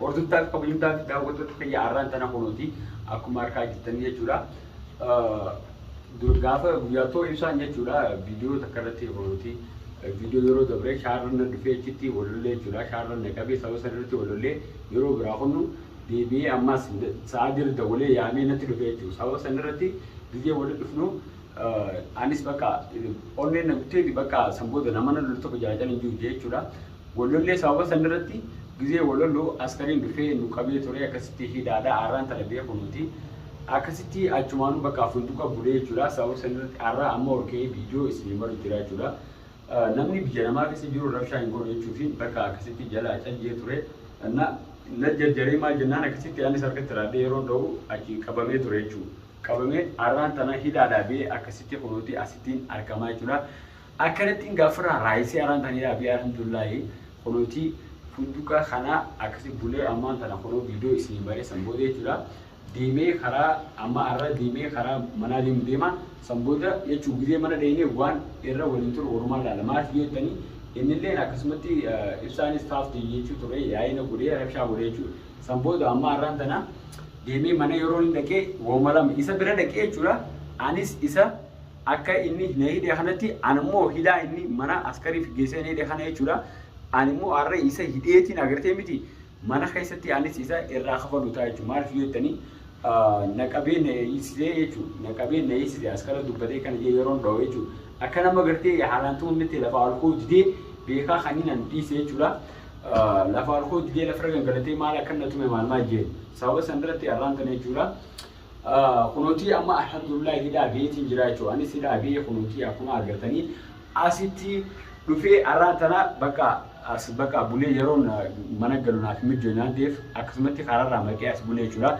Hordoftoota fi kabajamtoota fi daawwattoota kiyya har'aan tana kunuuti akkuma argaa jirtan jechuudha. Gaafa guyyaa too ibsaan jechuudha viidiyoo takka irratti kunuuti viidiyoo yeroo dabree shaarran na dhufee achitti walollee jechuudha shaarran na qabee sababa sana irratti walollee yeroo biraa kunu deebi'ee ammas sa'a diri dawwalee yaamee natti dhufee jechuudha sababa sana irratti gizee walitti dhufnu anis bakka onneen na guttee bakka san booda nama na loltu tokko jaalatanii jiru jechuudha. Wollolle sababa san irratti gizee wolollu askariin dhufee nu qabee turee akkasitti hidhaadha arraan tana beekunuuti akkasitti achumaanu bakka funduqa bulee jechuudha sababa san irratti arraa amma olka'ee video isin himaru jira jechuudha namni biyya namaa keessa jiru rabshaa hin godhu jechuufiin bakka akkasitti jalaa cayyee ture na na jarjaree maal jennaan akkasitti anis harkatti raadhee yeroon dha'u achi qabamee ture jechuudha qabamee arraan tana hidhaadhaa bee akkasitti kunuuti asittiin argamaa jechuudha Akkanattiin gaafirraa raayisee araan kan yaa abii alhamdulillahi kunooti funduqa kana akkasi bulee ammaan tana kunoo viidiyoo isinii maree san booda jechuudha deemee karaa amma arra deemee karaa manaa deemu deema san booda jechuu gizee mana dheenee waan irra waliin turu walumaan laala maaliif yoo jettanii innilleen akkasumatti ibsaanis taafti jechuu ture yaa'ina godhee rabshaa godhee jechuu san booda amma arraan tana deemee mana yeroo hin dhaqee wauma lama isa bira dhaqee jechuudha anis isa Akka inni na hidhe kanatti an immoo hidhaa inni mana askariif geessee na hidhe kana jechuudha. An immoo har'a isa hidheetiin agartee miti mana keessatti anis isa irraa kafalu ta'a jechuudha. Maaliif yoo jettanii na qabee na hiisisee jechuudha. Na qabee na hiisisee askara dubbatee kana jee yeroon dha'u jechuudha. Akka nama gartee haalaan tumamnetti lafa alkoo didee beekaa kan inni an dhiise jechuudha. Lafa alkoo didee lafarra gangalatee maal akka na tume maal maal jeen sababa sanarratti arraan tana jechuudha. kunotii amma alhamdulillah hidhaa biyeetiin jiraa jechuu anis hidhaa biyee kunotii akkuma argatanii asitti dhufee arraan tana bakka as bakka bulee yeroon mana galu naaf mijjoo naan ta'eef akkasumatti karaarraa maqee as bulee jechuudha.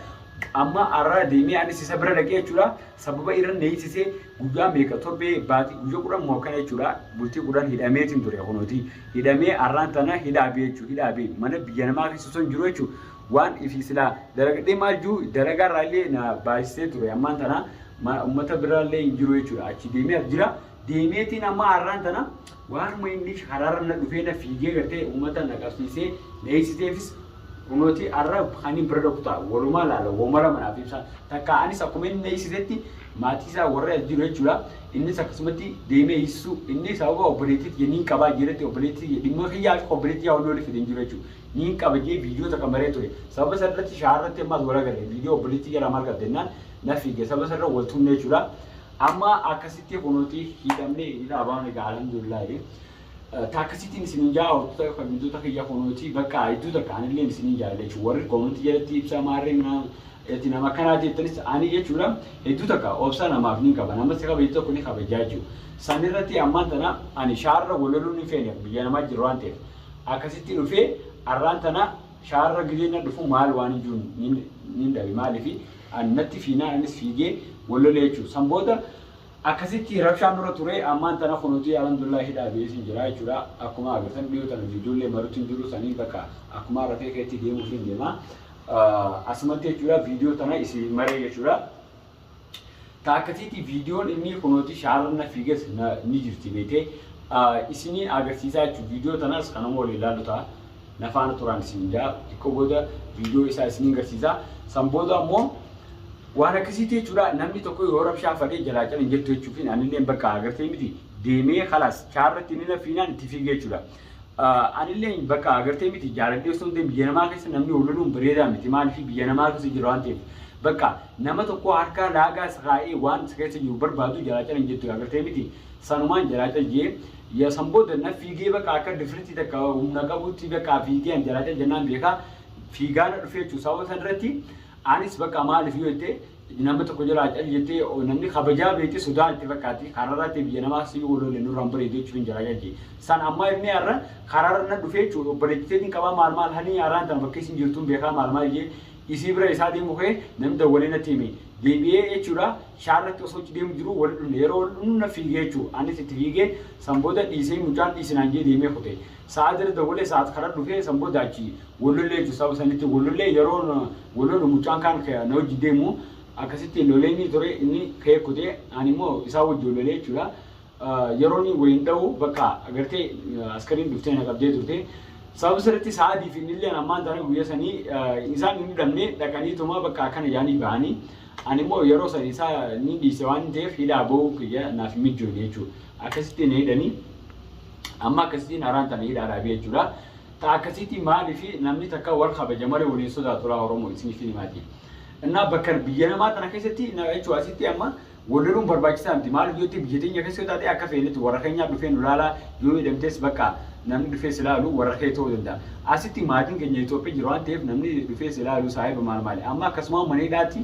Amma arraa deemee anis isa bira dhaqee jechuudha. Sababa irra neessisee guyyaa meeqa torbee baatii guyyaa kudhan moo akkana jechuudha. Bultii kudhan hidhameetiin ture kunooti. Hidhamee arraan tana hidhaa biyee jechuudha. Hidhaa biyee mana biyya namaa keessa osoo hin jiru jechuudha. waan ifi silaa dalagadhee maal juu dalagaa irraa illee na baasisee ture ammaan tana ummata biraa illee hin jiru jechuudha achi deemee as jira deemeetiin amma har'aan tana waanuma inni haraara na dhufee na fiigee gartee ummata na qabsiisee na eegsiseefis kunooti har'a kaniin bira dhokku ta'a walumaa laala woma lama naaf ibsaa takka anis akkuma inni na eegsisetti maatii isaa warra as jiru jechuudha innis akkasumatti deemee eegsisuu inni sababa obboleettiitti jenniin qabaa jiretti obboleettii dhimma kiyyaa akka obboleettii yaa olii olii fidee hin jiru jechuudha Niin kabajee viidiyoota kan baree ture. Sababa san irratti shaa'aa irratti ammaas wal agarre. Viidiyoo obboleettii jala maal qabde jennaan na fiige. Sababa san irra wal tumne jechuudha. Amma akkasitti kunuuti hidhamne hidha abaan egaa alhamdulillaahi. Takkasitiin isiniin jaa hortoota kabajamtoota kiyya kunuuti bakka hedduu takka anillee isiniin jaalle jechuudha. Warri koomantii jalatti ibsaa maarree minaa ati nama akkanaa jettanis ani jechuudha hedduu takka obsa namaaf ni qaba nama si kabajatu tokko ni kabajaa jechuudha. San irratti ammaan tana ani shaarra wal loluu ni feene biyya namaa jiru waan ta'eef. Akkasitti dhufee arraan tana shaarra gizeen na dhufu maal waan hin jiru nin nin dhabe maaliif an natti fiinaan anis fiigee wal lolee jechuudha. San booda akkasitti rabshaan nurra ture ammaan tana kunuutii alhamdulillah hidhaa ba'ee sin jira jechuudha. Akkuma agartan dhiyoo tana viidiyoollee maruutti hin jiru saniin bakka akkuma rafee keetti deemuuf hin deema. Ah, Asumatti jechuudha viidiyoo tana isin maree jechuudha. Taakkasiitii viidiyoon innii kunooti shaarra na fiigas na ni jirti beekee isinii agarsiisaa jechuun viidiyoo tanaas kanuma waliin laallu ta'a na faana turaan isin jaa xiqqoo booda viidiyoo isaa isiniin garsiisaa san booda ammoo waan akkasiitii jechuudha namni tokko yoo rabshaa fadhee jalaa calan jettu jechuufiin anilleen bakka agartee miti deemee kalaas shaarratti inni na fiinaan itti fiigee jechuudha. Anillee bakka agartee miti jaaladhee osoo hin deemin biyya namaa keessa namni wal loluun bareedaa miti maaliif biyya namaa keessa jira waan ta'eef bakka Nama tokkoo harkaa laagaas kaa'ee waan isa keessa jiru barbaadu jalaacal hin jettu agartee miti sanumaan jalaacal jee ya san booda na fiigee baqa akka difritii takka humna qabuutti baqa fiigee an jalaacal jennaan beeka fiigaa na dhufee jechuu sababa san irratti anis baqa maaliif yoo jette nama tokko jalaacal jettee namni kabajaa beekte sodaa itti fakkaatti kararratti biyya namaa si yoo lolle nurraa hin bareedu jechuun jalaacal jee san ammaa inni har'a kararra na dhufee jechuu obboleettiteetiin qabaa maal maal hanii haraan tan fakkeessin jirtuun beekaa maal maal jee Isii bira esaa deemu kee nan dawwalee natti himi deebi'ee jechuudha shaarratti osoo achi deemu jiru wal dhumne yeroo wal dhumnu na fiigee jechuu anis itti fiigee san booda dhiisee mucaan dhiisi naan jee deemee kute sa'aa jira dawwalee sa'aat karaa dhufee san booda achi wal lollee jechuu sababa sanitti wal lollee yeroo wal lolu mucaan kaan na wajji deemu akkasitti loleenii ture inni ka'ee kute ani immoo isaa wajji wal lolee jechuudha Yeroni wayin dhawu bakka agarte askarin dhuftee na qabdee turte sababa sirritti sa'aadii fi innilleen ammaan tana guyya sanii isaan hin hidhamne dhaqanii tuma bakka akkana jaanii bahanii ani immoo yeroo san isaa ni dhiise waan ta'eef hidhaa ba'uu kiyya naaf hin mijjoone jechuudha akkasitti na hidhanii amma akkasitiin haraan tana hidhaa dhaabee jechuudha ta akkasitti maali fi namni takka wal kabaja malee waliin sodaatu laa oromoo isiniif hin himaati innaa bakka biyya namaa tana keessatti na jechuudha asitti amma Wollaluun barbaachisaa miti maaliif yoo ta'e biyya teenya keessa yoo taate akka feenetti warra keenyaa dhufee nu laalaa yoo hidhamtees bakka namni dhufee si laalu warra kee ta'uu danda'a. Asitti maatiin keenya Itoophiyaa jira waan ta'eef namni dhufee si laalu saahiba maal maali amma akkasumaan mana hidhaatti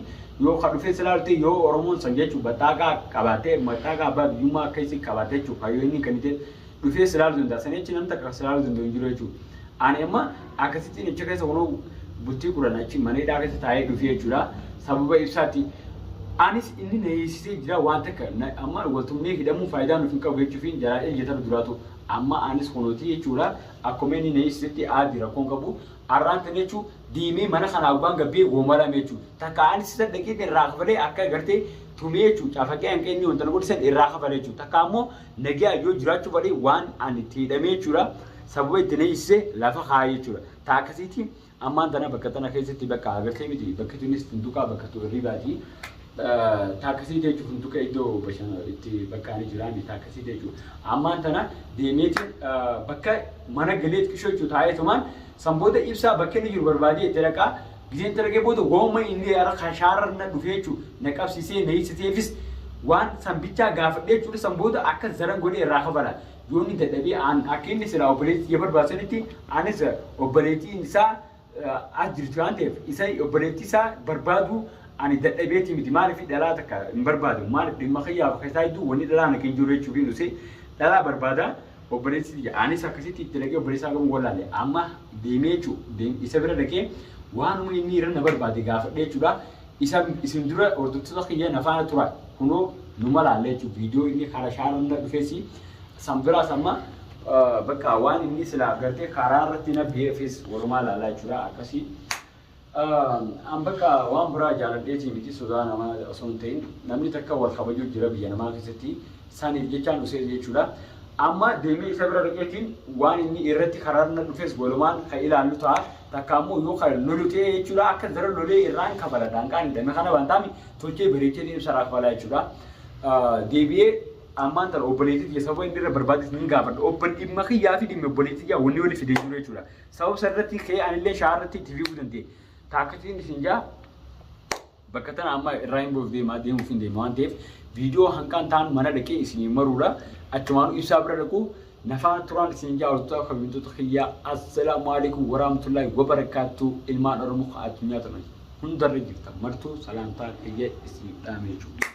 yoo ka dhufee si laalu ta'e yoo Oromoon san jechuun baxxaaqaa qabaattee maxxaaqaa abbaa biyyummaa akka isii qabaattee jechuun kayyoo inni kenniteef dhufee si laaluu danda'a. Sanii achi namni takka si laaluu danda'u hin jiru jechuudha. Ani amma akkasittiin achi keessa kunoo bultii kudhan achi mana hidhaa keessa taa'ee dhufee jechuudha. Sababa ibsaatti anis inni na hiisisee jira waan takka na- amma waltumnee hidhamuun faayidaa nuuf hin qabu jechuufiin jalaa eeggatan duraatu amma anis kunooti jechuudha. Akkuma inni na hiisisetti aadi rakkoon qabu arraan tan jechuun diimee mana kanaa gubbaan gabbee goomalame jechuudha. Takka anis isa dhaqee irraa kafalee akka gartee tumee jechuudha. Cafaqee hanqee inni wanta na godhisan irraa kafalee jechuudha. Takka ammoo Nagaan yoo jiraachuu baate waan ani itti hidhamee jechuudha sababa itti na hiisise lafa kaa'ee jechuudha. Ta'a akkasiitiin ammaan tana bakka tana keessatti bakka agartee miti bakki tunis funtukaa bakka tu hirribaati. Ta'a akkasiitii jechuun funtuka iddoo bashana itti bakka ani jiraanne ta'a akkasiitii jechuun ammaan tana deemeetiin bakka mana galeet qishoo jechuun taa'ee tumaan san booda ibsaa bakka inni jiru barbaadee itti dhaqaa Gizee itti argee booda waanuma inni ara kan shaarar na dhufee jechu na qabsisee na hidhsiteefis waan san bichaa gaafadhee jechuudha san booda akka zaran godhee irraa kafala yoo inni dadhabee aan akka inni silaa obboleetii tiyya barbaadu sanitti anis obboleetiin isaa as jirti waan ta'eef isa obboleetii isaa barbaaduu ani dadhabeetii miti maaliif dhalaa takka hin barbaadu maaliif dhimma kiyyaaf keessaa hedduu wanni dhalaa na keessa jiru jechuufiin usee dhalaa barbaada Obboleessi tiyya anis akkasitti itti dhaqee obboleessaa qabuun wallaale. Amma deemee jechuu isa bira dhaqee waanuma inni irra na barbaade gaafadhee jechuudha. Isa isin dura hordoftoota kiyya na faana tura kunoo numa laalla jechuudha. Viidiyoo inni karaa shaararra dhufes san biraas amma bakka waan inni silaa gartee karaa irratti na beefes walumaa laallaa jechuudha akkasii. An bakka waan biraa jaaladheetii miti sodaa namaa osoo hin ta'in namni takka wal kabajuu jira biyya namaa keessatti saniif jechaan usee jechuudha. Amma deemee isa bira dhaqeetiin waan inni irratti karaarna dhufes walumaan kan ilaallu ta'a takka ammoo yoo kan lolu ta'e jechuudha akka zara lolee irraan kafala daanqaan hin dame kana waan taami tolchee bareechee deemsa irraa kafalaa jechuudha. Deebi'ee ammaan tana obboleettii kiyya sababa inni irra barbaadis ni gaafadha obbo dhimma kiyyaa fi dhimma obboleettii kiyyaa wanni wali fidee jiru jechuudha. Sabab sarratti kee anillee shaarratti itti fiiguu danda'e. Taakkatiin isin jaa bakka tana amma irraa hin goof deemaa deemuuf hin deema waan ta'eef viidiyoo hanqaan ta'an mana dhaqee isin maruudha. Achumaan ibsaa bira dhaqu nafaan turaan isin jaa hortotaa kabajamtoota kiyyaa assalaamu alaikum waraamtullaahi wabarakaattuu ilmaan oromoo addunyaa turan hundarra jirtan martuu salaamtaa kiyya isin dhaamee jechuudha.